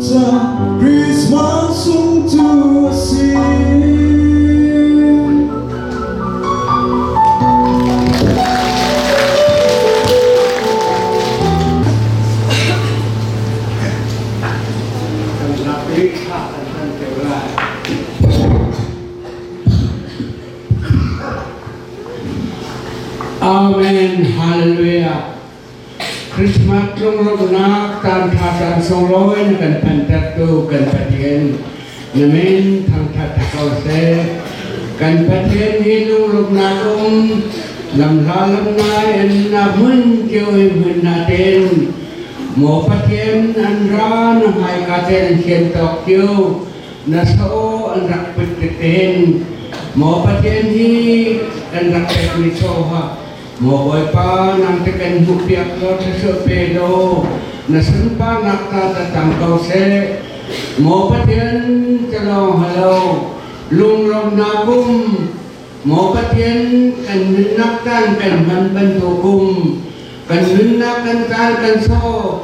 Christmas sung cu a si. Amen. Hallelujah. Christmas tlungrawkn ah caanṭha caan sunglawi na kan hmantertu kan Pathian na min thangṭhat hna ko seh. Kan Pathian hi lungruknak um lamhla lamnai in na hmun kio i hmun na ten. Maw Pathian an ra na hmaika ten hian tawk kio na sa aw an rak put tit hin. Maw Pathian hi kan rak pekmi soha Maw Bawipa, nang te kan hmuhpiak law thluachuah pe law na sunparnak ta tang ko seh. Maw Pathian, ka lawng halo, lunglawmnak kum. Maw Pathian, kan nunnak kan kan hman bantukum, kan nunnak kan car kan saw,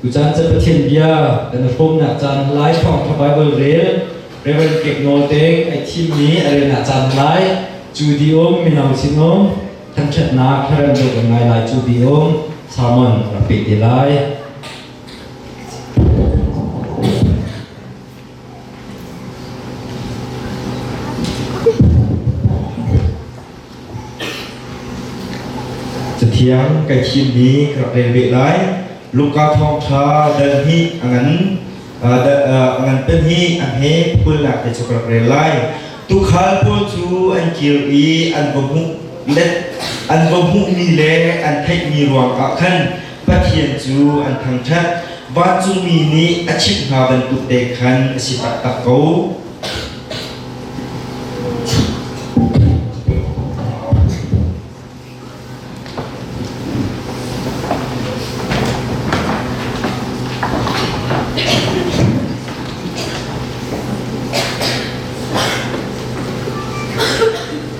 Tucaan cu Pathian bia kan i hrawmnak caan lai thawngtha Baibal rel Reverend Kek Nawl Deng ai thimmi a relnak caan lai cu di um mino sin um thangthatnak herem dawh kan ngai lai cu di um sermon rak pe te lai Cathiang kai thimmi ka rak rel ve lai. Luka thawngṭha dal hnih a ngan a ngan pem hi an he phulnak te cu ka rak rel lai. Tukhal pawl cu an kir i an va hmuh let an va hmuhmi le an theihmi ruangah khan Pathian cu an thangṭhat, vancungmi nih a chimh hna bantuk te khan a si taktak ko.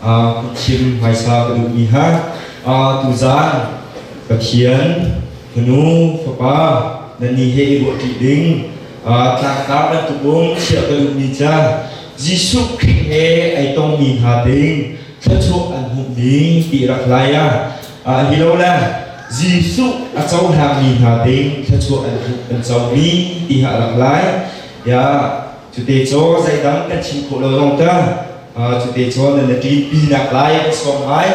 a thim hmaisa ka duhmi ha tu zan Pathian fanu fapa nannih he i ruahṭi ding tlangtar bantuk um chiah ka duhmi ca Jesuh Khrih he ai tongmi hna ding thluachuah an hmuhmi ti rak lai ah hi lo le Jesuh a cohlangmi hna ding thluachuah an hmuh an comi ti ha rak lai ya Cute cu zeidang kan chim khawh lo zong ta cute cu nan na ṭin pi nak lai ka sawm ngai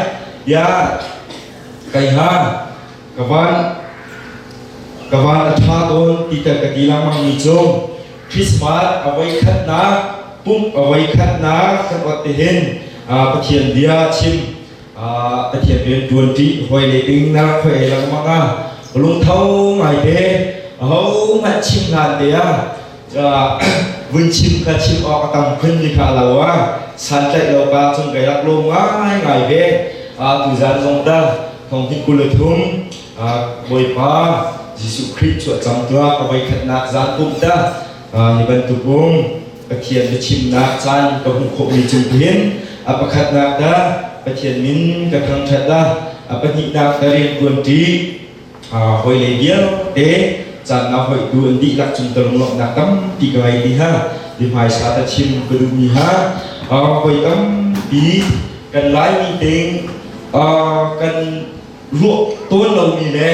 bia kai ha ka van ka van a ṭha tawn ti kan ka ti langmang mi cu Christmas awai khatnak pump awai khatnak kan ot te hin Pathian bia chim Pathian rian ṭuanṭi hawile ding na rak hoi lengmang ah lungtho ngai te ho hmanh chim hlan te ah vun chim ka chim awk a tam khun ni kha lo a santlaih lo ka cun kai rak lawm ngai ngai ve tu zan zong da thong hin kul thum Bawipa Jesuh Christ chuah cam tuah ka voi khatnak zan pum da hi bantuk um Pathian biachimnak caan ka hmuh khawhmi cung hin a pakhatnak dah Pathian min ka thangṭhat dah a pahnihnak dah rian ṭuanṭi hawilei vialte caannak hoihtu an dihlak cungter nuamhnak tampi ka ngei ti hna i hmaisa ta chim ka duhmi hna hawi tampi kan laimi ting kan ruah tawn lomi le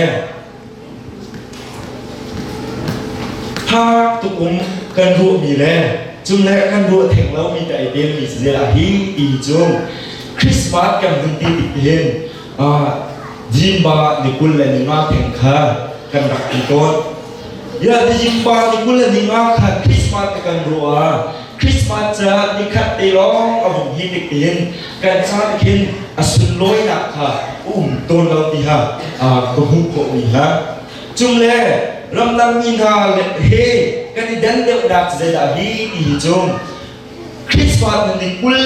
Thak tuk um kan ruahmi le cunglei ah kan ruah theng lomi ta i belmi zelah hi tii cu Christmas kan hun ti tik hin Jinba nikul le ninga theng kha kan rak ti tawn. Ya ti Jinba nikul le ninga kha Christmas te kan ruah ah Christmas caah nikhat te lawng a hung hi dik in kan ca nih khin a sunlawinak kha um tawn lo ti ha ka hmuh khawhmi hna cung le ramdangmi hna he kan i dan deuhnak zeidah hi ti hi cung Christmas na ning ul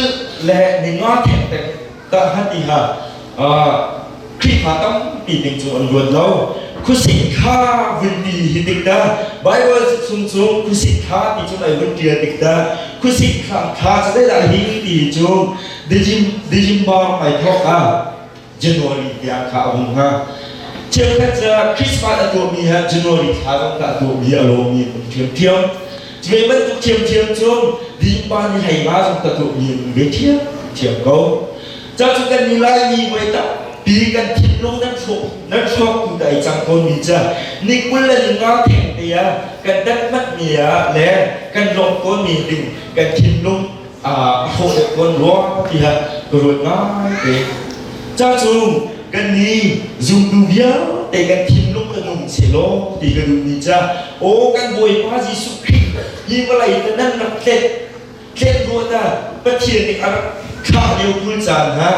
le ningwa thengteng Dahngatni ah Khrihfa tampi ding cu an luat lo. Khuasik kha vun ti hi tik dah Baibal chung cu khuasik kha ti cun ai vun ṭial tik dah khuasik kha kha cu dai dah hi ti cu December mai thawk ah January tiang kha a hung hnga. Cheukhat cu Christmas a tuahmi he January thla zong tah tuah hi a lawmi an um ṭhiamṭhiam. Cu bantuk ṭhiamṭhiam cu Lipa nih hleima zong ka tuahmi an ve ṭhiamṭhiam ko. Cacu kan nih Laimi voi tampi kan thinlung nan hrawk nan hrawktu da i cang tawnmi cu ni kul le ni nga theng te ah kan tat hmatmi ah le kan lawmh tawnmi ding kan thinlung a thawh le kan ruah tiah ka ruat ngaite ca cu kan ni zumtu vialte kan thinlung kan um se law ti ka duh ni ca o kan bawipa jesuh khrih hi vawlei te nan rak tlet tlet ruah na pathian nih a rak khah lio kul caan hna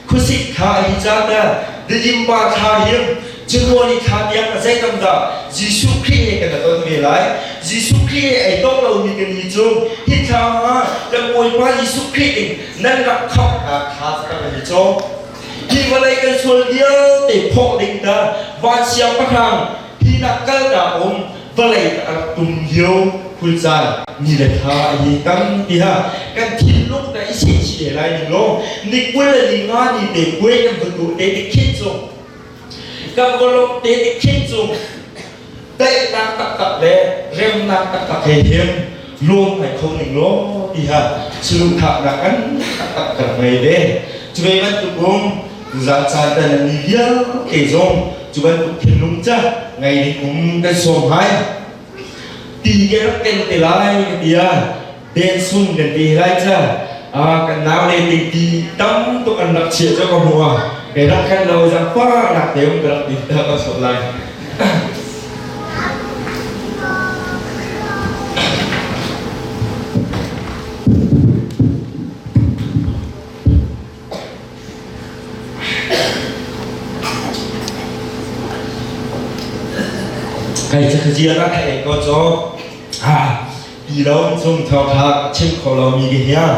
Khuasik thla a hi caan le dilimpa thla hiam January thla tiang a zeitam dah Jesuh Khrih he kan ton ve lai Jesuh Khrih he ei tong lo mi kan ni cu hi thla ma kan Bawipa Jesuh Khrih in nan rak khamh nak thla cakam an ni cho hi vawlei kan sual vialte phoh ding dah van siang pahrang hi nak kal ta um vawlei a rak tum lio khulcaan ni le thla a hi tam tiah kan thinlung ta i se chile lai ning lo ni kul ni nga ni te kue kan vun du te te khin chu kan golok te te khin chu daihnak tak tak le remnak tak tak he hem lawm ngai kho ning law tiha sulungkhaknak kan taktak kan ngei ve cu ve bantuk um zan caan tan ni vialte zong cu bantuk thinlung ca ngai ding um kan sawm hai tin ke rak ken te lai ka tia den sun kan te lai ca a kan nau le te ti tam to kan rak chia cho ka hmuwa ke rak kan lo jang pa nak te um ka rak tin ta ka so lai Kai cu ziar a ei ko cho ha pi lo chung thau thak chim kho lo mi ke hiang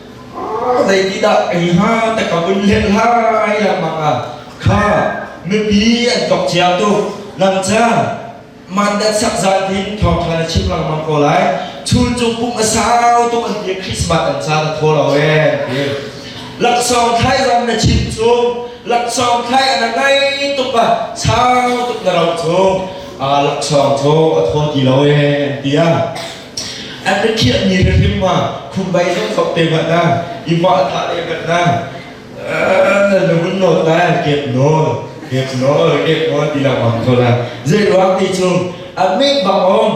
Zeitindah ei hnga ta ka vun hlen lai lengmang ah kha mipi an tok cia tu lamca mandat sak zan hin thawngṭha na chim lengmang ko lai chul cung pum a sau tuk an ti Christmas an ca na thaw lo ee an ti laksawng thlai ram na chim chung laksawng thlai ana ngai tuk a sau tuk na ro chung laksawng cu a thaw ti lo ee an ti a An rikhiah ni rihrim ma khumbai zong thok te ma na ima tha le kan na na lun nawl la kep nawl kep nawl kep nawl ti la wang tho la zei ruang ti chung a me bang om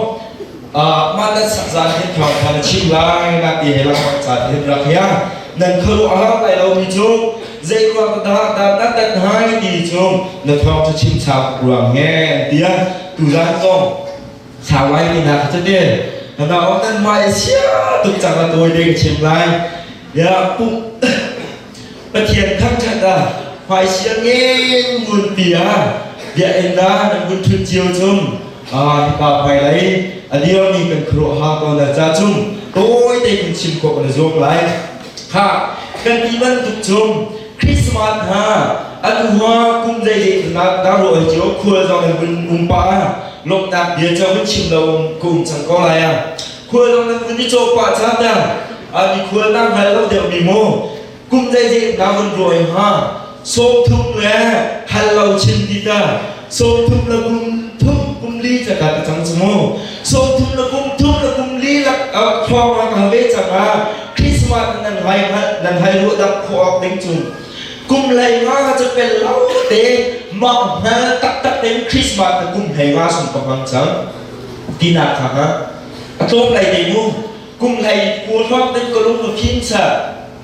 ma nan sak zan hin thawng khan chim lai na ti he la wang ca hin rak ya nan kharu a hang lai lo mi chung zei ruang da da na tat hai ti chung na thawng chu chim chak ruang nge tia tu zan zong Sang Lai mi hna kha cu te nana awk nan mai sia tuk cang a tawi de ka chim lai ya pum Pathian thangthat a hmai sia ngeng ngun pi a bia en da nan ngun thun cio chung a hipa pai lai aliam mi kan khro ha ko na cha chung tawi te kun sim ko na zong lai ha kan ti ban tuk chung Christmas hna an hua kum zei zeikhat darawi cio khual zong in vun um pa lomhnak bia ca vun chim lo um ka um cang ko lai ah khual zong nan vun i caw pa ca ta ani khual nang hal lo deuh mi mu kum zei zeikhat vun ruai ha sawm thum le hal lo chin ti ta Sawmthum le kum thum kum li cak ah ka cang cu mu. Sawmthum le kum thum le kum li lak ah thluang an hal ve cang ah Christmas nan hai nan hai ruah dak khawh awk ding cung. Kum lai nga cu pel lau te mah hna taktak tein Christmas na kum hlei nga sung ka hmang cang. Tina kha ha. A tlawm lai te mu. Kum hlei ku thluang din ko lung fim sa.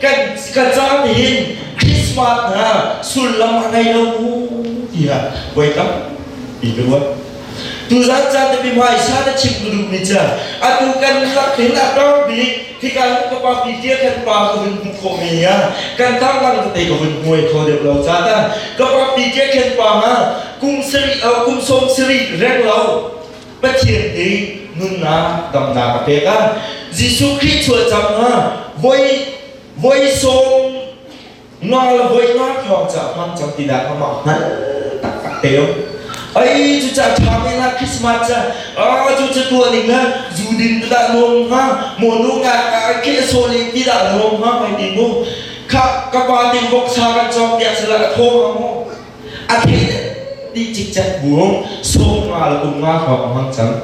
kan caan nih Christmas hna sullam a ngei lo mu tiah voi tam i ruat tuzan caan te bimai sa te chim tu duh mi cha atu kan hlak thil a tar bik khi kan ka pa pi tia kan pa ka hun bu kho me ya kan ta lang te ka hun hmuai kho deuh lo cha ta ka pa pi tia kan pa nga kum seri kum som seri reng lo Pathian nih nunnak damnak a pek ah Jesuh Khrih chuah cang ah voi voi sawm nga le voi nga thawng ca hmang cang ti dah amah hngal taktak te um ai cu ca ṭha men ah Christmas ca a cu ca tuah ning na zu din tu dah nuam hnga mo nu nga ka khe so ling ti dah nuam hnga mai ti mu kha ka pa tin vok sa kan cawk tiah sala a thaw ha mu A thei ti cikcek bu sawm nga le um nga hrawk a hmang cang.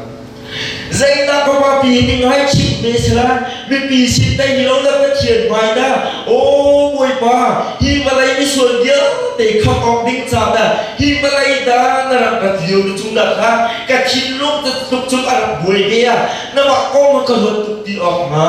Zeidah ka papi ning hai chim ne sela mipi sin dai ni lo na pathian mai na o boipa hi malai ni sual dia te kham ok ding cha da hi malai da na rak rat lio ni chung da kha ka thin lung tu tluk chung a rak buai ve ya na wa ko ma ka hot tuk ti ok ma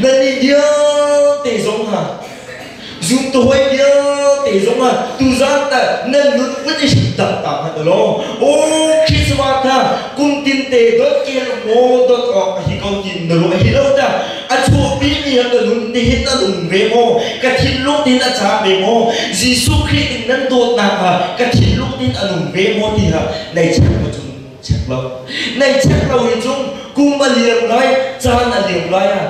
Nannih vialte zong ha zumtuhoi vialte zong ha tuzan ta nan nun vun i hrim tak ta hmanh law o Christmas tha kum tin te dot kel maw dot awk a hi ko tin na ruah hi lo ta a chuhpi mi ha ka nun te hin an um ve maw ka thinlung tin a cha ve maw Jesuh Christ in nan dawtnak ha ka thinlung tin an um ve maw ti ha nei chek ma cun chek lo nei chek lo hi cu kum a liam lai caan a liam lai ah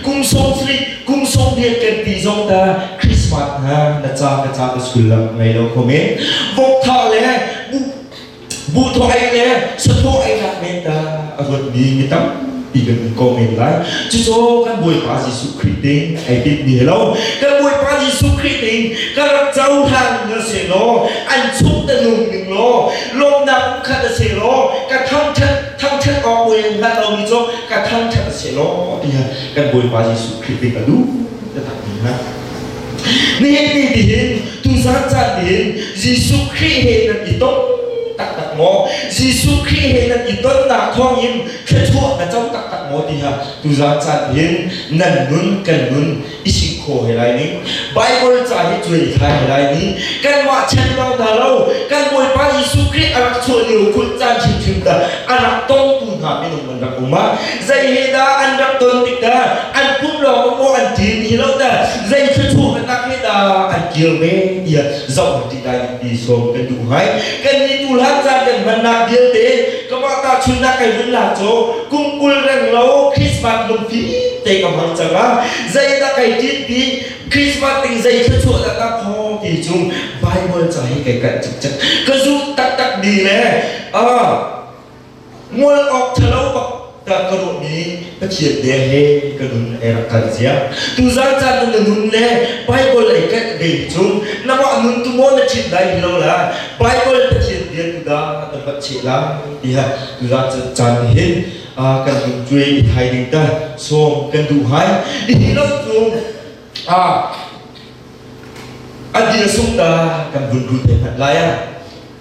kum sawm sri kum sawm rian kan ti zong ta christmas na na ca ka ca ka sullam ngei lo khom e vok tha le bu bu thoai le sato ai lak men ta a ruat mi mi tam pi kan in ko men lai chu so kan bawipa Jesuh Christ te ai pit mi hello kan bawipa Jesuh Christ te kan rak chau han na se no an chuk ta nung ning lo lawmnak khat a si law ka thangṭhat thangṭhat awk buai an hlat lomi cu ka thangṭhat a si law tiah kan Bawipa Jesuh Khrih nih a lu taktak ni na nihin ni tihin tuzan caan tihin Jesuh Khrih he nan i ton taktak maw Jesuh Khrih he nan i tonnak thawng in thluachuah na co taktak maw tiah tuzan caan tihin nan nun kan nun isi kho he lai ning bible ca hi cuai thai he lai ning kanmah chan lo hna lo kan bawipa jesuh khrih a rak chuah lio kul caan hrimhrim dah a rak tongtu hna minung an rak um a zei he dah an rak ton tik dah an pum lawng maw an ṭin hi lo dah zei thluchu hnanak he dah an kir ve tiah zoh kan i sawm kan duh ngai kan i tu hlan caan kan hmannak vialte kamah ta chunnak kai vun la cho kum kul reng lo Christmas lungfi te ka hmang cang a zeidah kai tin pi Christmas ting zei thil chuah da tak ho ti chung Bible cang hi kai kan chuk chak ka zu tak tak di ne a Ngol awk ṭhalo bak dah ka ruahmi Pathian bia he ka nun ai rak kal zia. Tuzang caan nun le nun le Bible ai kaih ve cu nangmah nun tu maw na ṭhit lai lo la Bible Pathian bia tu dah na vat che la tiah tuzang caan ni hin kan nun cuai i thai ding ta sawm kan duh hai hihi lam cu a dina sung ta kan vun ru te hmat lai a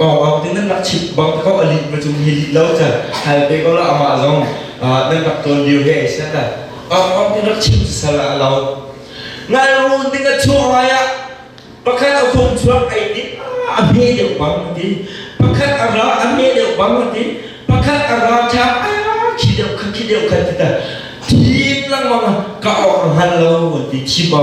Pawngkam tin nan rak chimh bang te ko a lih ma cung hi lih lo cang hal pe ko la amah zong nan rak tawl lio he ai set pawngkam tin rak chim sal ah lo ngai run ding a chuah ngai ah pakhat a fung chuak ai ti a hme deuh bang ti pakhat a ra a hme deuh bang ti pakhat a ra chap khi deuh kha khi deuh kha ti ta thim lang manga ka or hal lo ti chim ba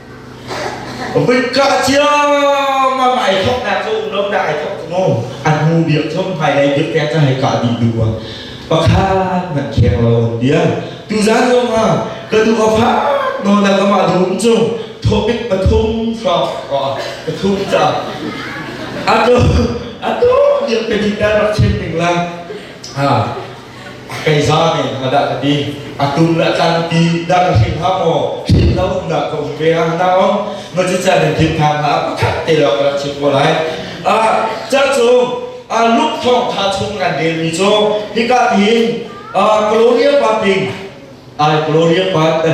Bika ciam a mai thok na cu lom da ai thok ngo an mu biak chom hai dai biak te ta hai ka di du wa pakhan man kheng lo on dia tu zan zong ha ka du ka fa no na ka ma dum chu topic pathum fra ko pathum cha ato ato biak te ti ta rak chen ding la ha kei za ne nga dah ka ti a tum la tlan ti dah ka hrin ha maw hrin lo dah ka um ve ha na om ma cu cha ne din than ha pakhat te lo ka chim ko lai a chak chung a luk thong tha chung kan del mi cho hika hin a gloria paping ai gloria pat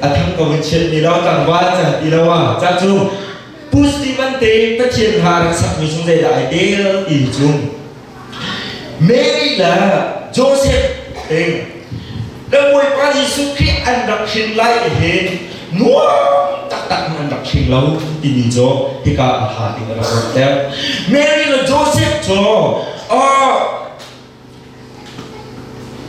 a thang ko in chet ni lo tang ba chan ti lo wa chak chung Pu Stephen te Pathian kha rak sakmi chung zeidah ai tel ti cung Mary le Joseph ding na Bawipa Jesuh Khrih an rak hrin lai hi nuam taktak in an rak hring lo timi cu hika a ha in a rak langhter Mary le Joseph cu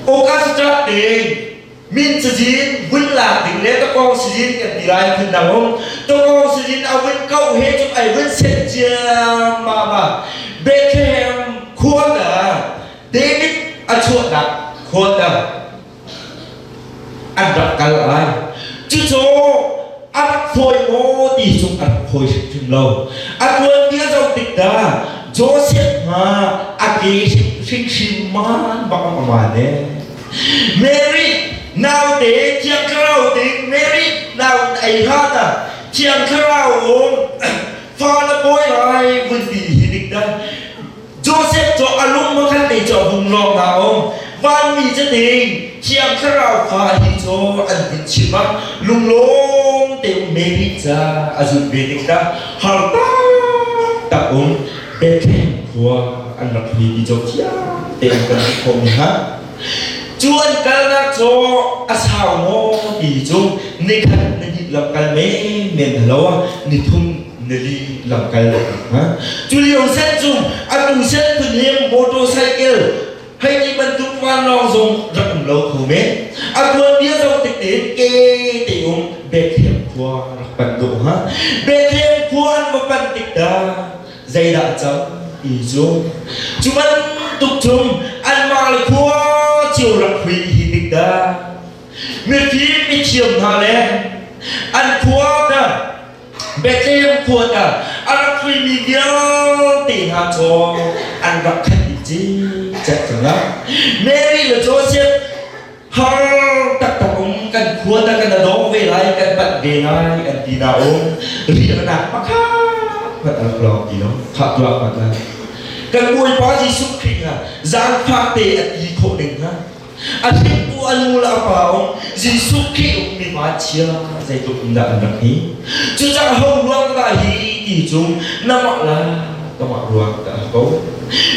Focus cat ding min cazin vun lak ding le ka kong sizin kan ti lai phun nang hung to kong sizin a vun kau he cun ai vun sen ciam ma ma Bethlehem khua na David a chuahnak khua na an rak kal lai cucu a rak fawi maw ti cung an fawi hrimhrim lo a tuanbia zoh tik dah Joseph hna a ke hrimhrim man bang a ma ne Mary naute thiang thlarau ding Mary naun ei hlan ah thiang thlarau um fa na pawi lai vun ti hi dik dah Joseph cu a lung maw kan te cu a hung lawng na um vanmi cu ding thiang thlarau fa hi cu an in chim a lunglawm te Mary ca a zulh ve ding ta har tak tak um Bethlehem khua an rak ni ti jo thiang te an kan khom ni ha cu an kalnak cu a sau maw ti cu nikhat na hit lam kal men men halo a ni thum nili lamkal cu lio set cung atu set phun leng motorcycle hei ti bantuk vanlawng zong rak um lo kho me a tuan bia zong tik te ke te um bethem khua rak pan do ha bethem khua an va pan tik da zeidah cam i cu cu ban tuk chung an mar le khua chiu rak hui hi tik da mifim i thiam hna le an khua da Bethlehem kuat ah a rak huimi vialte hna cu an rak khat i cicet cang a. Mary le Joseph har taktak um kan kuat ah kan a dawng ve lai kan panh ve lai an ti na um riahnak makha mat a rak lawng ti lo khah tuah mat lai kan bawipa Jesuh Khrih ha zangfah te a ti khawh ning ha A hringtu an nu le a pa um Jesuh Khrih ummi hmai chia zeitluk in dah an rak hi cucaah ho ruang dah hi ti cu namah la kamah ruang dah a ko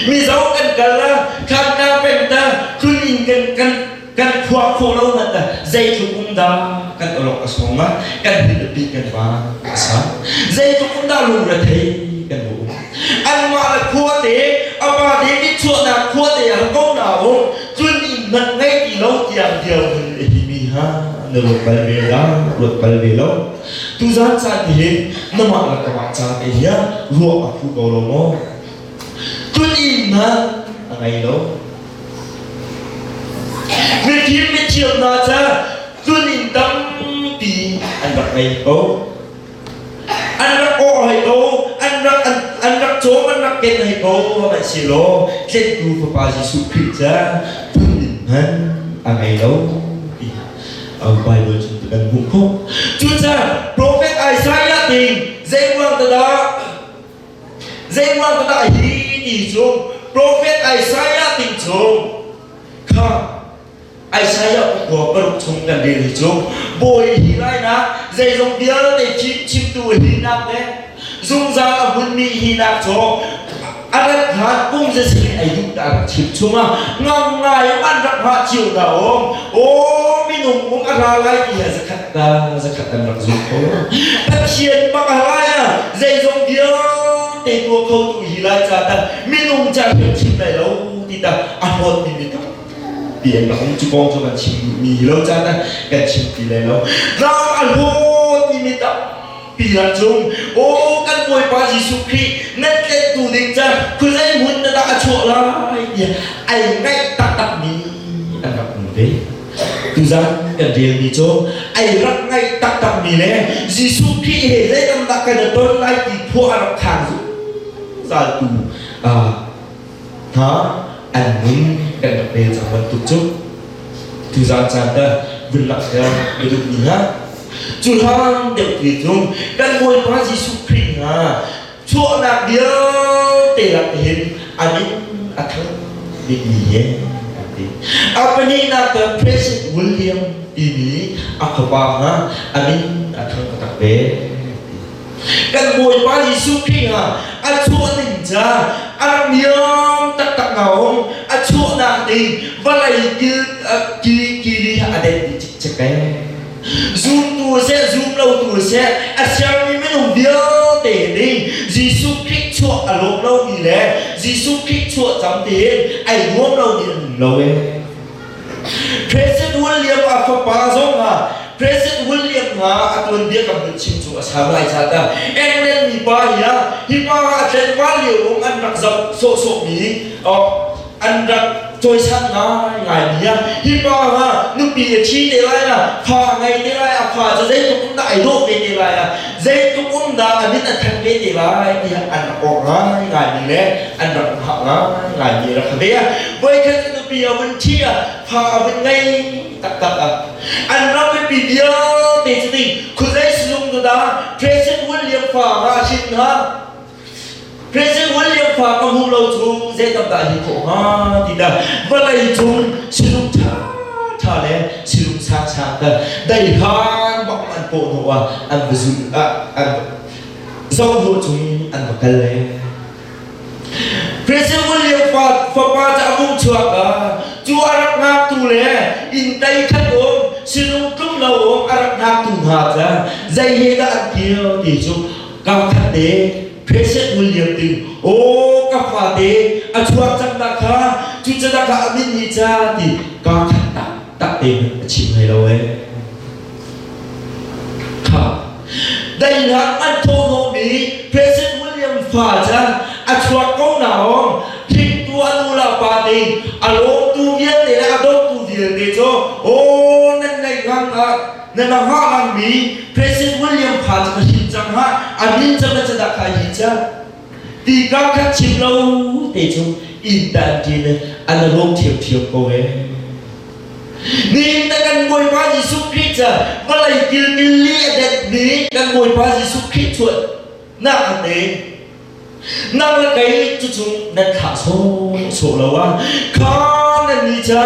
mizo kan kal la khanna pengta khun in kan kan kan khua kho lo hmanh dah zeitluk um dah kan olok a song la kan hin a pi kan va a sa zeitluk um dah lung rethei kan bu um anmah le khuate a pate nitchuahnak khuate ah ko na um cun in nat ngei ti lo tiang dirhmun a hi mi ha na ruat bal ve la ruat bal ve lo tu zan caan ti hin na mah la ka mah caan te hiya ruah a phu ko lo maw cun in na a ngei lo mithim mithiam na ca cun in tam ti an rak ngei ko an rak awh hlei ko an rak an rak cawm an rak ken hlei ko lai si lo tlentu fapa Jesuh Khrih ca phun hman a ngei lo Bible cu kan hmuh kho cucaah profet Isaiah ding zeiruang dah zeiruang dah hi ni cung profet Isaiah ding cung kha Isaiah kua paruk chung kan rel cu bawi hi lainak zeizong vialte chimtu hinak le zungzal a hmunmi hinak cu a rat hlan kum zesi ei duh ta rak chim chunga ngam ngai in an rak ngah cio ta om o minung um a ra lai ti ha zakhat ta zakhat an rak zul ko pathian baka lai a zeizong vialte tua kho tu hi lai ca tan minung ca hrim chim lai lo ti ta a hon mi mi ta biak a um cu kong cu kan chim duhmi lo caan ah kan chim ti lai lo ram a luat timi tampi ran zung o kan bawipa jesuh khrih nan tlet tu ding caan khuazei hmun na dah a chuah lai tiah ai ngaih taktakmi an rak um ve tuzan kan rialmi cu ai rak ngaih taktakmi le jesuh khrih he zei tam dah kan i ton lai ti phuah a rak khang zungzal tu ah Hna an nun kan rak pe cang bantuk cu tu zan caan dah villak hian na duh ni ha cu hlan deuh te cu kan Bawipa Jesuh Khrih hna chuahnak vialte lak hin an in a thang bikmi hi an ti a pahnihnak kan present William timi a fapa hna an in a thang taktak ve kan bawipa jesuh khrih ha a chuah ning ca a niam taktak na um a chuah nak ding vawlei kil kili kili a det ni cik cik pe zum tu se zum lo tu se a siang mi minung vialte ding jesuh khrih chuah a lawm lo mi le jesuh khrih chuah cam te ai nuam lo ni an lo e President William a fapa zong ha President William ha a tuan dia kan hun chim cu a sam lai ca ta England mi pa hi a hi pa ha tlen wa lio um an rak zam sawh sawh mi an rak cawisan ngai ngai mi a hi pa ha nupi a thi te lai na fa ngei te lai a fa cu zeitluk na ai dawh ve te lai a zeitluk um dah a min a thanh ve te lai tiah an rak awk ngai ngai mi le an rak hngah ngai ngai mi rak ve a voikhat nupi a vun thi a fa a vun ngei taktak a an ram mipi vialte cu ding khuzei sulung nu da Tracy William fa ra shin ha Present wan lio khua ka hmu lo chung zei tam dah hi khawh hnga ti dah va lei chung silung ṭha ṭha le silung sang sang ta dai han bak an paw no ah an va zun ah an zohvo chung in an va kal le Present wan lio fa fapa ca mung chuak ka cu arak ngak tu le in tai khat om silung tlum lo om arak ngak tu hna ca zei he dah an kio ti cu Kapthate Peset ngul liam ding Aw ka fate a chuak cang nak kha cu ca nak a min ni ca ti ka khat tak tak te a chim ngai lo e ha dai na an tho no mi Peset ngul liam fa ca a chuak ko na om thing tu anu la pa te a lom tu vial te le a dot tu vial te cho o nan nei ngang na na la ngah langmi President William kha cu na hrin cang ha a min cang na cadah kai hi ca ti ka khat chim lo te cu in tan ti le an rom thiam thiam ko e ni ta kan bawi pa Jesuh Christ ca malai kilkil li adet mi kan bawi pa Jesuh Christ chuan na an ne nang la kai chu chung nan thlah so so lo a kha nan ni cha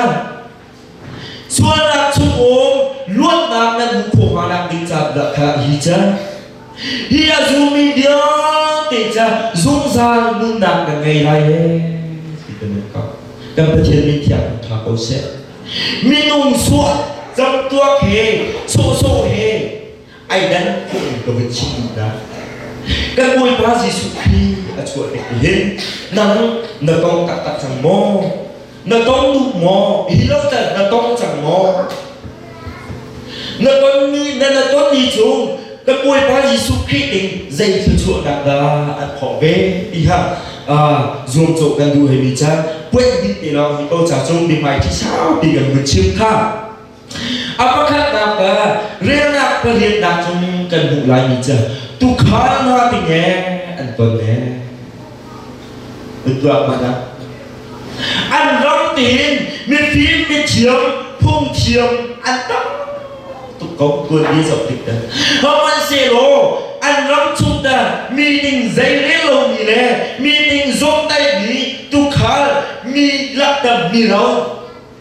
Sualnak chungum luatnak nan hmuh khawh hnga nak ding caan dah kha hi ca hi a zumi vialte ca zungzal nunnak kan ngei lai he ti kan in kau kan Pathian min thiang tha ko seh minung sual camtuak he sawhsawh he Aidan khawh ka va chim dah. Kan Bawipa Jesuh Khrih a chuah dek hin nang na tong taktak cang maw? Na tong duh maw? Hi loftal na tong cang maw? Na tonmi na na tonmi cu kan Bawipa Jesuh Khrih ding zei thluachuahnak dah an khawh ve ti kha zuamcawh kan duh hei mi ca puanh ding te lawng hi ko ca cu biahmai thi saupi kan vun chim kha A pakhatnak ah relnak pariatnak cung kan hmuh lai mi cu tukhal hna dingee an ton e. An tuak ma dah? An ram tiin mifim mithiam phungthiam an tam tuk ko tuan mi zok dik ta. Haman selaw an ram chung ta meeting zeirel lo mi le meeting zom tai mi tukhal mi laktam mi ro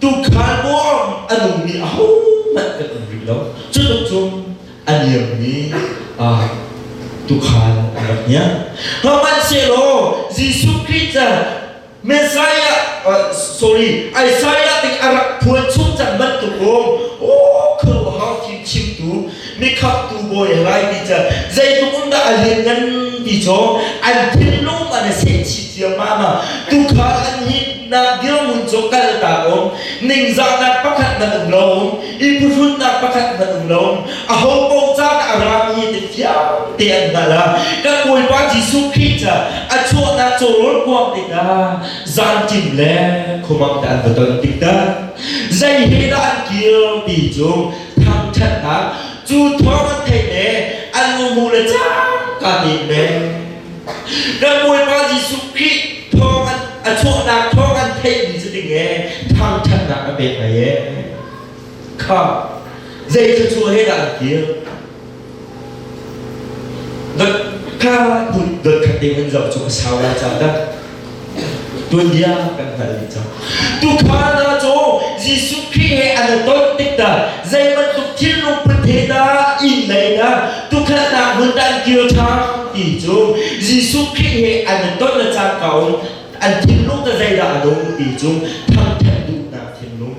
Tukhal bawm a nungmi ahohmanh kan um rih lo. Cu tluk cu a niammi ah tukhal an rak niam. Hmanhsehlaw Jesuh Khrih cu Messiah, uh, sorry, Isaiah ti a rak phuan chung cang bantuk um, oh khuaruahhar fim chimtu mikhamtu bawi a lai ti cu zeitluk um dah a lianngan ti cu an thinlung an a seh chih ciammam a tukhal an hi na dirmun cu kal ta um ningzahnak pakhat nan um lo um i phuhrunnak pakhat nan um lo um a ho ko caan a rami te fiang te an hal a ka kawipa Jesuh Khrih ca a chuahnak cawrawl kuang te ta zan kim le khumang te an va ton tik ta zei he dah an kir ti cu thangṭhatnak cu thawng an theih le an numu le cangka nih an pek kan Bawipa Jesuh Khrih thawng an a chuahnak thawng an theihmi cu ding e thangṭhatnak a pek ngai e kha zei thluachuah he dah an kir Dotka phun dotkhat ding an zoh cu a sau la cang dah. Tuanbia kan hngal dih cang. Tukhal hna cu Jesuh Khrih he an i ton tik dah zei bantuk thilnung put he dah inn lei dah tukhatnak hmun dah an kir ṭhan ti cu Jesuh Khrih he an i ton a cangka um an thinlung dah zeidah a nung ti cu thangṭhat duhnak thinlung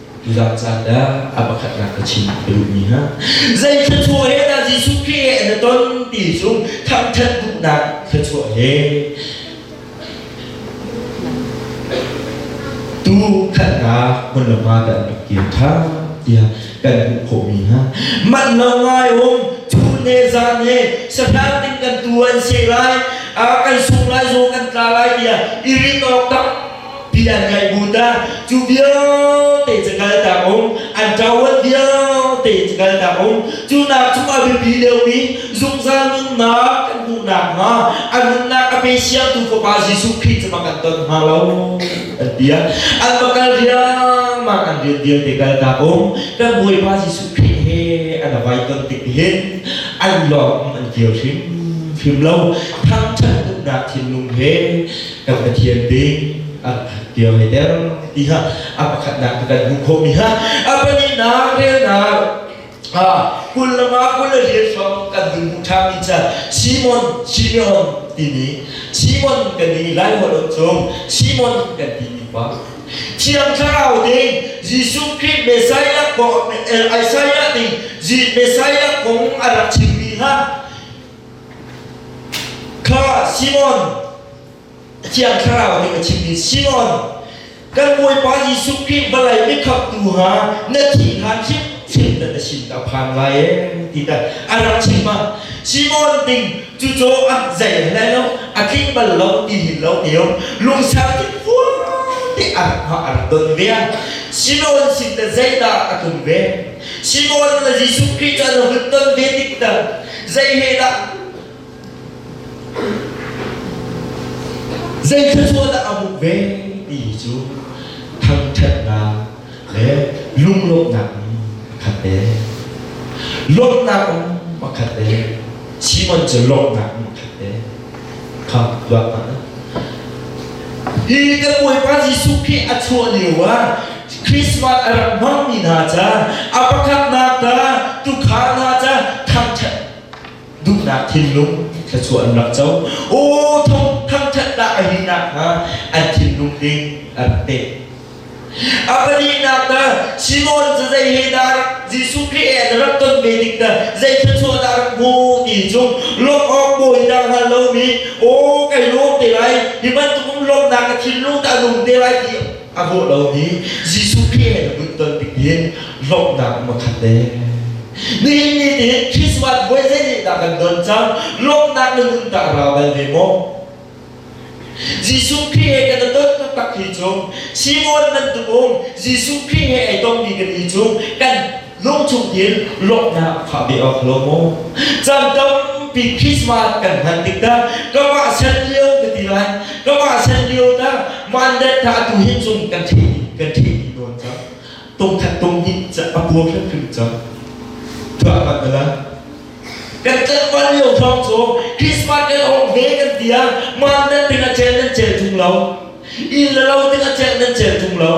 Zulah caan dah a pakhatnak ka chim ka duhmi hna. Zei thluachuah he dah Jesuh Khrih na ton ti cu thangṭhat duhnak thluachuah he tu khatnak hmun le hma kan rak kir kha tiah kan hmuh khawhmi hna manh lo ngai um cu ne zan he sahrang ding kan tu an se lai a kan sung lai zaw kan tla lai tiah i rit awk tak Pi an ngaih bun dah cu vialte cu kaltak um an ṭawat vialte cu kaltak um cu nak chung a biapi liomi zungzal nunnak kan hmuh nakhnga an nunnak a pe siangtu fapa Jesuh Khrih cu kan ton hnga lo an ti an va kal riangmang an rian vialte kaltak um kan Bawipa Jesuh Khrih he an vai ton tik hin an lawng an kir hrim fim lo thangṭhat uknak thinlung he kan Pathian bik an dio hi der ti kha a pakhatnak tu kan hmuh khawhmi ha a pahnihnak relnak ha kul lama kul le riat hrawng kan in hmuh ṭhami ca Simon Simeon timi Simon kan i laimawt cung Simon kan timi pa Thiang Thlarau ding Jesuh Khrist Messiah kong Isaiah ding Messiah kong a rak chimmi ha Kha Simon Thiang Thlarau nih a chimmi Simon kan Bawipa Jesuh Khrih vawlei mikhamtu ha na thih hlan hrimhrim na sin ka phan lai ti ta a rak chim ah Simon ding cu co an zei hlei lo a tling bal lo ti hin lo te lungsang in vuang te a rak don ve Simon sin da zeidah a tlung ve Simon na Jesuh Khrih cu na hun don ve tik tak Zei he dah? Zei thluachuah dah a hmuh ve? Ti cu thangṭhatnak le lunglawmhnak in khat te. Lawmhnak um pakhat te. Simon cu lawmhnak in khat te. kha tuah hna. Hi kan Bawipa Jesuh Khrih a chuah lio ah Christmas a rak hmangmi hna ca, a pakhatnak ta, tukhal hna ca, thangṭhat duhnak thinlung thluachuah an rak co. Aw thangṭhat dah a hi nakhnga an thinlung ding a rak pek. A pahnihnak na Simon cu zei he dah Jesuh Khrih e na rak ton ve ding na zei thluachuah dah rak hmu ti cu lawmh awk bawi dah hngal lomi o kai lawm te lai hi bantukum lawmhnak ka thinlung dah nung te lai ti a bawh lomi Jesuh Khrih he na nun ton ding hin lawmhnak um a khat te nihin ni tin Christmas voi zei dah kan don cang lawmhnak na nun tah ra bal ve maw Jesuh Khrih he kan dawt taktak hi cu Simon nan tumum Jesuh Khrih he ai tongmi kan hi cu kan lungchung in lawmhnak fah ve awk lo mu. Cam tampi Christmas kan hman tik dah kamah san lio ka ti lai kamah san lio dah mandat tha tu hi cung kan theih kan theih nawn cang tung khat tung hi a puak hrim hrim cang tuah kan mala Kan tlangval lio thawng cu Christmas kan awng ve kan tia man nan ding a cel nan cel tung lo in le lo ding a cel nan cel tung lo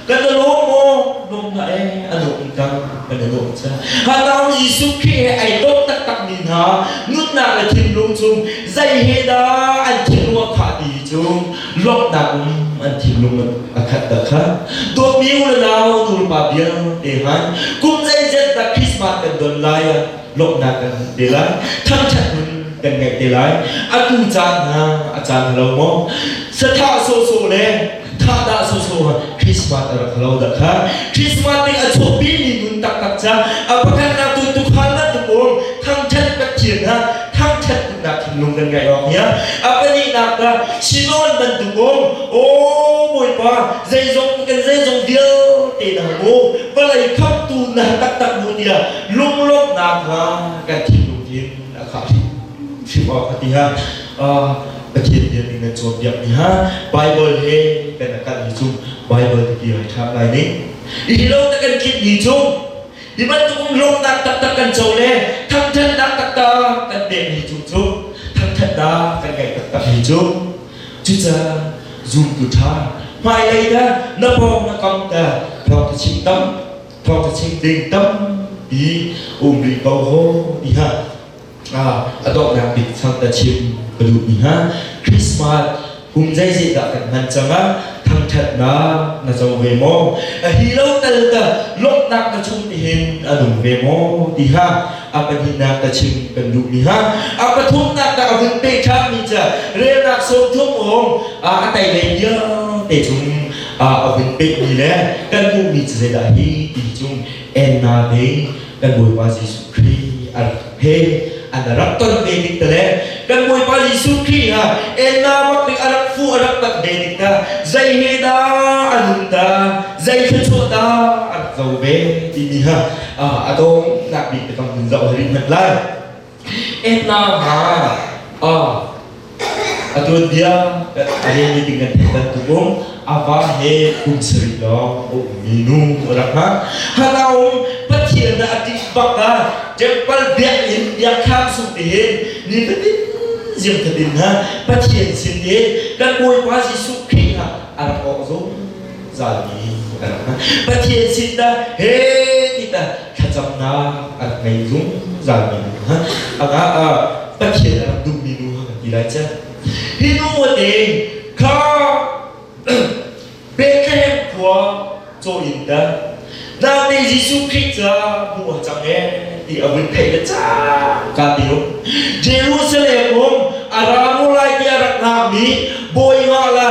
kan na lawm maw lawm na e a lawm cang kan na lawm cha hanau Jesuh khi he ai dawt taktak mi hna nunnak le thinlung cung zei he dah an thinlung a khah ti cu luaknak um an thinlung a khat ta kha dawtmi u le nau nulpa vialte han kum zeizat dah Christmas kan don lai ah lawmhnak kan hmuh te lai thangṭhat nun kan ngaih te lai a tu caan hna a caan halo maw satha soso le thahdah soso ha Christmas a rak halo da kha Christmas ding a chawpi ni nun taktak ca a pakhat na tu tukhan na tum um thangṭhat pathian ha thangṭhat nak thinlung kan ngeih awk hian a pahnihnak dah sinawn man dukum o bawipa zeizong kan zeizong vialte dang mu vawlei khamtu na taktak mu tia lunglawmhnak hna kan thinlung din a khah hrim awk a ti ha Pathian biak ning kan cawn biak ni ha Bible he kan akal ni cung Bible ti bi hai tha lai ning i lo ta kan kit ni cung Hi bantuk rawhnak taktak kan co le thangthatnak taktak kan pekmi tu cu thangthatnak kan ngeih taktakmi cu cucaah zumtu ṭha hmailei dah na pawng na kam dah thawngtachim tam thawngtachim ding tampi um rih ko ho tiha a donghnak bik thangthat chim ka duhmi hna Christmas kum zeizet dah kan hman cang a thangthatnak na co ve maw a hi lo tal ta lawmhnak na chung ni hin a nung ve maw ti ha a pahnihnak ta chim kan duhmi ha a pathumnak ta a vun pe ṭhami ca relnak sawmthum awm a tailei vialte cung a vun pehmi le kan hmuhmi cu zeidah hi ti chung enna ding kan Bawipa Jesuh Khrih a rak pek an rak ton ve ding te le kan Bawipa Jesuh Khrih ha enna wat dik a rak fu a rak tan ve ding ta zei he dah a nun ta zei thluachuah dah a rak zo ve ti ni ha a dawng nak bik te kong hun zoh rit hmanh lai Etna ha ah a tuanbia a rel ding kan theih bantuk um ava he kum sarih lawng a ummi nu a rak hmang hana um pathian na a tih bak ah temple biak in biakkhang sung te hin ni tatin ziang tatin ha pathian sin he kan bawipa jesuh khrih ha a rak awk zong zalmi a rak hmang pathian sin na he ti ta thlacamnak an hei zungzalmi nu hna a ga ah Pathian a rak dummi nu hna kan ti lai cang hi nu nih kha Bethlehem khua caw in dan nate Jesuh Khrih ca hmu a cang e ti a vun theih le ca ka ti um Jerusalem um a ramu lai ti a rak ngakmi Bawiha la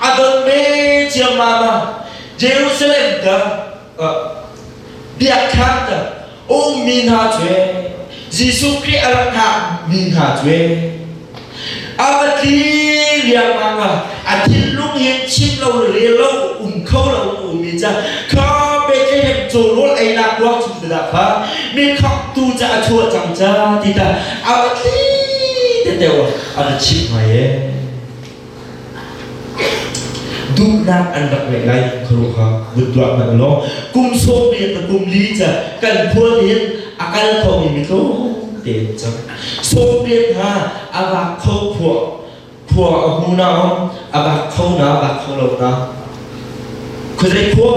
A dang ve ciammam ah Jerusalem ta biakthang ta ummi hna cuai Jesuh Khrih a rak hngakmi hna cuai a va tli riangmang ah a thinlung hin chim lo le rel lo um kho lo ummi ca kha Bethlehem cawrawl einak ruak chung te dah kha mi khaktu ca a chuah cang ca ti ta a va tli te teo a va chim ngai ee Duhnak an rak ngeih lai khuaruah kha vun tuah hmanh law kum sawm riat le kum li ca kan khual hin a kal khomi mi tlawm tein cang sawm riat hna a vak kho khua khua a hmu na om a vak kho na vak kho lo na khuazei khua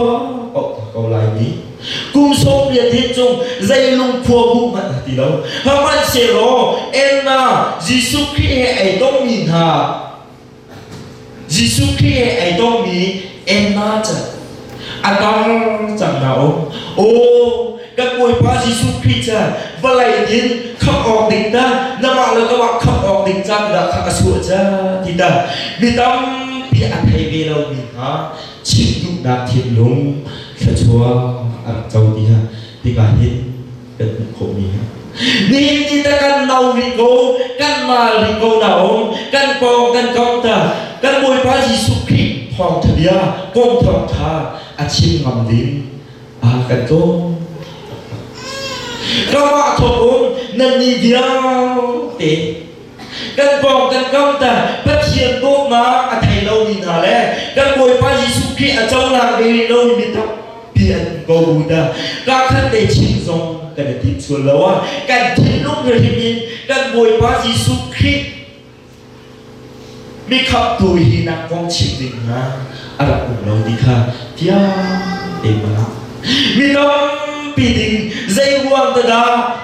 ko lai mi Kum sawmriat hi cung zei lungkhua bu hmanh a ti lo. Hmanhsehlaw elna Jesuh Khrih he ai tongmi hna Jesuh Khrih he ai tongmi elna ca a tang cang hna o. Aw kan Bawipa Jesuh Khrih ca vawlei din kham awk ding ta namah le kamah kham awk ding ca dah kha ka suah ca ti ta mi tampi a thei ve lomi hna Chin duhnak thinlung thluachuah a rak co ti hna tikah hin kan hmuh khawhmi hna. Nihin ni tah kan no rih ko, kan mal rih ko na um, kan pawng kan komh ta, kan Bawipa Jesuh Khrih thawngtha bia kom thawngtha a chim ngam ding aa kan tlawm. Ramah thawk um nannih vialte kan pawng kan kam ta Pathian dawtnak a thei lomi hna le kan Bawipa Jesuh Khrih a conak ve rih lomi mi tampi an um ko bu ta kakhat lei chim zong kan i tim sual lo a kan thinlung rihim in kan Bawipa Jesuh Khrih mi khamtu hi nak kong chim ding hna a rak um lo ti kha tiang amen mi tampi ding zei ruang dah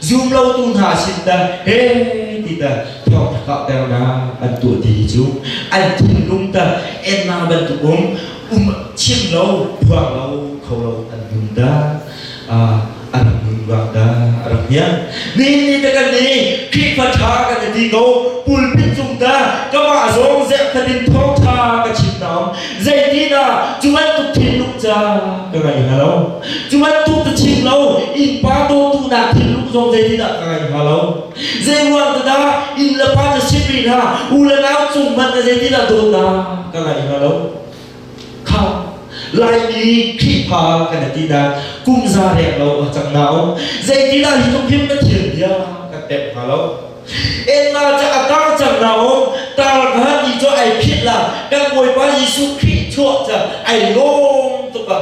zum lotu hna sin dah he ti dah thawngtha kauhternak an tuah ti hi cu an thinlung dah ennak bantuk um um chiam lo phuang lo kho lo an dum dah a rak nun ruang dah a rak niang ni te kan ni Khrihfa tha kan ti ko pulpit cung dah kama zong zek thatin thawngtha ka chim naam Zeitinah cu bantuk thinlung ca ka ngei hna lo. Cu bantuk ka chim lo innpa dawtu nak thinlung zong zeitinah ka ngei hna lo. Zei ruang dah inn le pa na si ri hna u le nau cung hmanh na zeitinah dawtnak ka ngei hna lo. Khang Laimi Khrihfa kan ti na kum za rek lo a cang na um. Zeitinah hi tluk hin ka thil bia kan tep hna lo. Enga ca a tar cang na um tar kha ni cu ai phit la kan Bawipa Jesuh Khrih chuah ca ai lawm tuk a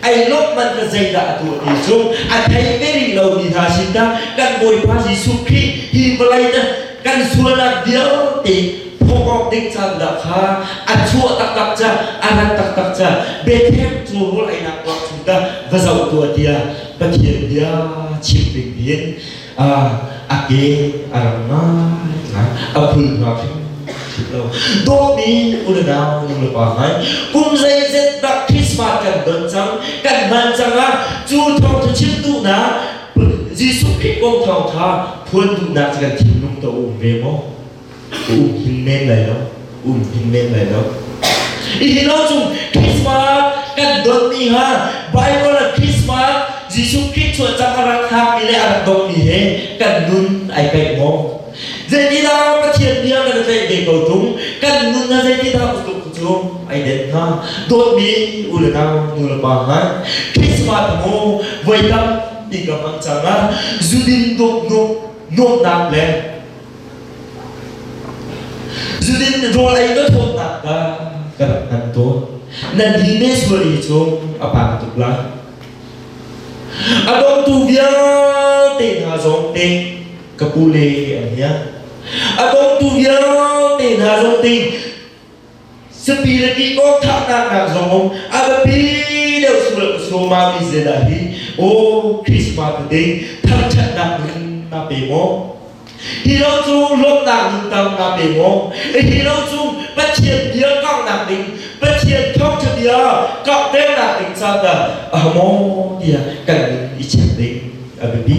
ai lawmh man ka zeidah a tuah ti cu a thei ve rih lo mi hna sin ta kan Bawipa Jesuh Khrih hi vawlei ta kan sualnak vialte phok awk ding caan dah kha a chuah taktak ca a rat taktak ca Bethlehem cu rul ainak tuah chung ta va zoh tuah tiah Pathian bia chim ding in a ke a rang ngaingai a phul hna hrim lo dawmi ununau lunglepa ngai kum zeizet dah Christmas kan don cang kan hman cang a cu thawngtha chimtu na Jesuh Khrih kong thawngtha phuan duhnak kan thinlung to um ve maw um hin men lai lo um hin men lai lo Itin lo chung Christmas kan don mi ha Bible a Christmas Jesuh Christ chuan cang a rak hak mi le a rak dong mi he kan nun ai kai mo Zeitidah Pathian nih kan tlaih ve ko tung kan nun ha zeitidah utuk cu ai den ha dawt mi u le nau nu le pa ha Christmas mu voi tam i kam ang chang a zudin duk nu nuamnak le Cutin rawl ei na thawtnak kha ka rak hngal tawn. Nan hi ne sual i cu a pang tuk lai. A dongtu vialte hna zong te ka pu le an hiang. A dongtu vialte hna zong te Sapi le ti awk thahnak nak zong a biapi deuh sual ka suma mi zena hi o Christmas te thar ṭhatnak ning na pe maw hi lo cu lawmnak ning tam na pe maw hi lo cu Pathian bia kanghnak ning Pathian thawngṭha bia kanghnernak ning caan dah a maw tiah kan ning i check ding a biapi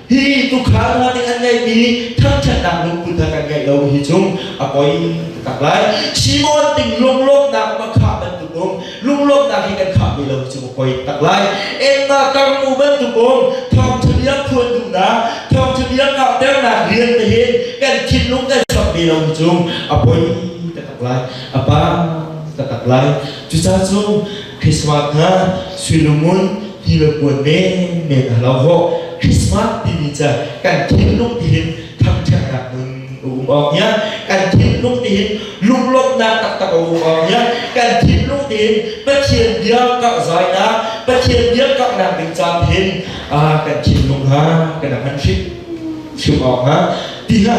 hi tukhal hna nih an ngeihmi thangṭhatnak lungput a kan ngeih lo hi cu a poi taktak lai Shimon ting lunglawmnak um a khah bantuk um lunglawmnak hi kan khahmi lo cu a poi tak lai Emma karm u bantuk um thawngṭhabia phuan duhnak thawngṭhabia karhternak rian te hin kan thinlung kan chap ve lo hi cu a poi taktak lai a pang taktak lai cucacung Christmas hna suilumun thilpuan menmen a lo ho Christmas timi ca kan thinlung tihin thangṭhatnak nun um awk nia kan thinlung tihin lunglawmhnak taktak a um awk nia kan thinlung tihin Pathian bia karh zainak Pathian bia karhnak ding caan hin ah kan thinlung ha kan han hrim hrim awk ha ti ha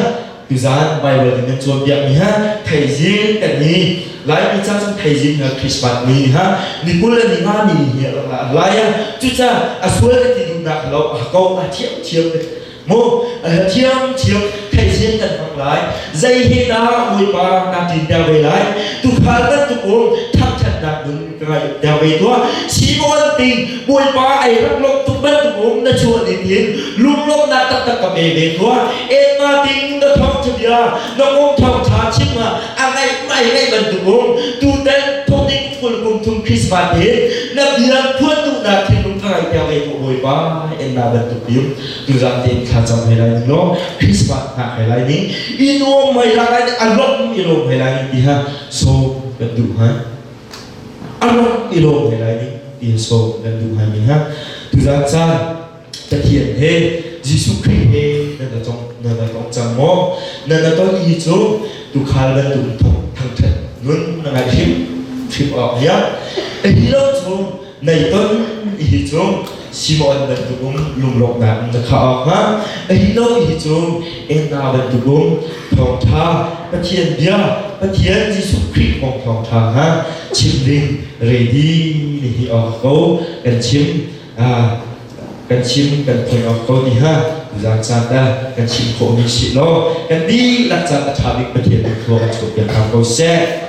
Tuzan Baibal in nan cawnpiak mi ha theizing kan i Laimi ca cun theizing hna Christmas ni ni ha ni kul le ni nga mi ni hi rak la lai a cuca a sual le ti duhnak lo a ko a thiam thiam le mu a thiam thiam theizing kan hmang lai zei he na muipa rang na tin te ve lai tu khal kan tu kum thang than nak nun dang vei tuah sibawan ting bawipa ai rak lok tuk bantuk um na chuah ni tin lunglom na tak tak ka pe ve tuah en ma ting na thong chabia na um thong tha chim ma a ngai mai ngai bantuk um tu tan thoning ful kum thum christmas tin na biang phuan tu na thil lung thangai tia ve ko bawipa en na bantuk tim tu zam tin kha cham hai lai ning lo christmas na hai lai ning inu mai ra lai a lop mi rom hai lai ning ti ha so kan du hai i lawm ve lai nih tiin sawm nan duh hai mi hna tuzan caan Pathian he Jesuh Khrih he nan na tong nan na tong cang maw nan na ton i cu tukhal nan dum thangthat nun na ngai hrim hrim awk liang a hi lo cu Nei ton hi cu Simon bantuk um lunglawmhnak in na khah awk hnga a hi lo hi cu Enna bantuk um thawngtha Pathian bia Pathian Jesuh Khrih kong thawngtha hna chim ding ready ni hi awk ko kan chim kan chim kan thei awk ko ti ha zak caan da kan chim khawh mi si lo kan dihlak caan a tha bik Pathian in khua kan chuk piak ko seh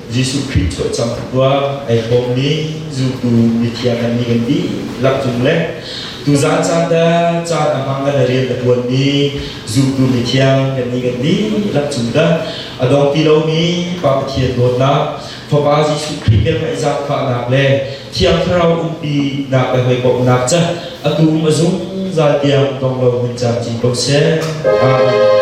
Jesuh Khrih cawlcangh a tuah ai bawmmi zultu mithiang an ni kan dihlak cung le tuzaan caan dah caan a hmang le na rian a tuanmi zultu mithiang kan ni kan dihlak cung dah a dong ti lomi Pa Pathian dawtnak Fapa Jesuh Khrih ke ngaih zaangfahnak le Thiang Thlarau umpinak le hoi bawmhnak ca a tum a zungzal tiang dong lo hun caan cin ko seh. Amen.